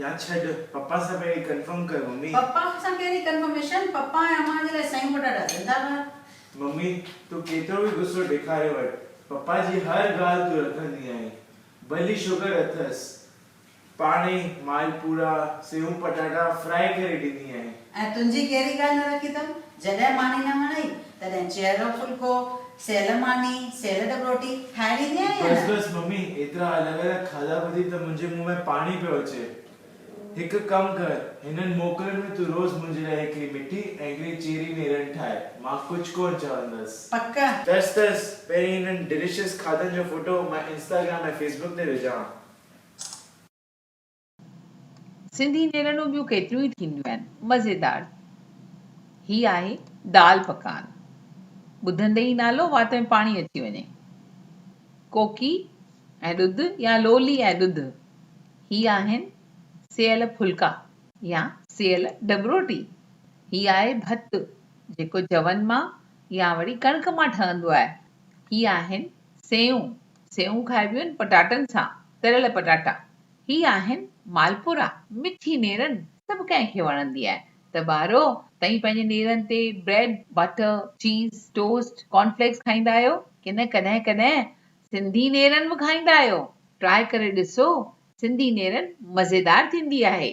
يا ڇڏ پپا سان پهرين ڪنفرم ڪر ممي. پپا سان ڪهڙي ڪنفرميشن پپا ۽ امان جي لاء سيون پٽاٽا زنده باد. ممي تون ڪيترو به غصو ڏيکاري وٺ پپا جي هر ڳالهه تون رکندي آهين ڀلي شگر اٿس پاڻ ئي مالپورا سيون پٽاٽا فرائي ڪري ڏيندي آهين. ۽ تنهنجي ڪهڙي ڳالهه نه رکي اٿم؟ جڏهن ماني نه وڻئي، تڏهن چهرو ڦلڪو، سيل ماني، سيل ڏٻروٽي، ٺاهي ڏيندي آهين يا بس نه؟ بس ممي، ايترا الڳ الڳ کاڌا ٻڌي ته منهنجي منهن ۾ پاڻي پيو اچي. هڪ ڪم ڪر، هنن موڪلن ۾ تون روز منهنجي لاء هڪڙي مٺي ۽ هڪڙي چيري نيرن ٺاهه، مان ڪجهه ڪونه چوندس. پڪ؟ تس تس، پهرين هنن ڊيليشس کاڌن جو فوٽو مان انسٽاگرام ۽ فيسبڪ تي وجهان. سنڌي نيرنون ٻيون ڪيتريون ئي ٿينديون آهن مزيدار هي آهي دال پڪان ٻڌندي ئي نالو وات ۾ پاڻي اچي وڃي ڪوڪي ۽ ڏڌ يا لولي ۽ ڏڌ هي آهن سيل ڦلڪا يا سيل ڊٻروٽي هي آهي ڀت جيڪو جون مان يا وري ڪڻڪ مان ٺهندو آهي هي آهن سيون سيون کائبيون آهن پٽاٽن سان تريل پٽاٽا هي آهن مالپورا، مٺي نيرن سڀ ڪنهن کي وڻندي آهي ته ٻارو تئين پنهنجي نيرن تي bread, butter, cheese, toast, corn flakes کائيندا آهيو ڪي نه ڪڏهن ڪڏهن سنڌي نيرن به کائيندا آهيو ٽرائي ڪري ڏسو سنڌي نيرن مزيدار ٿيندي آهي.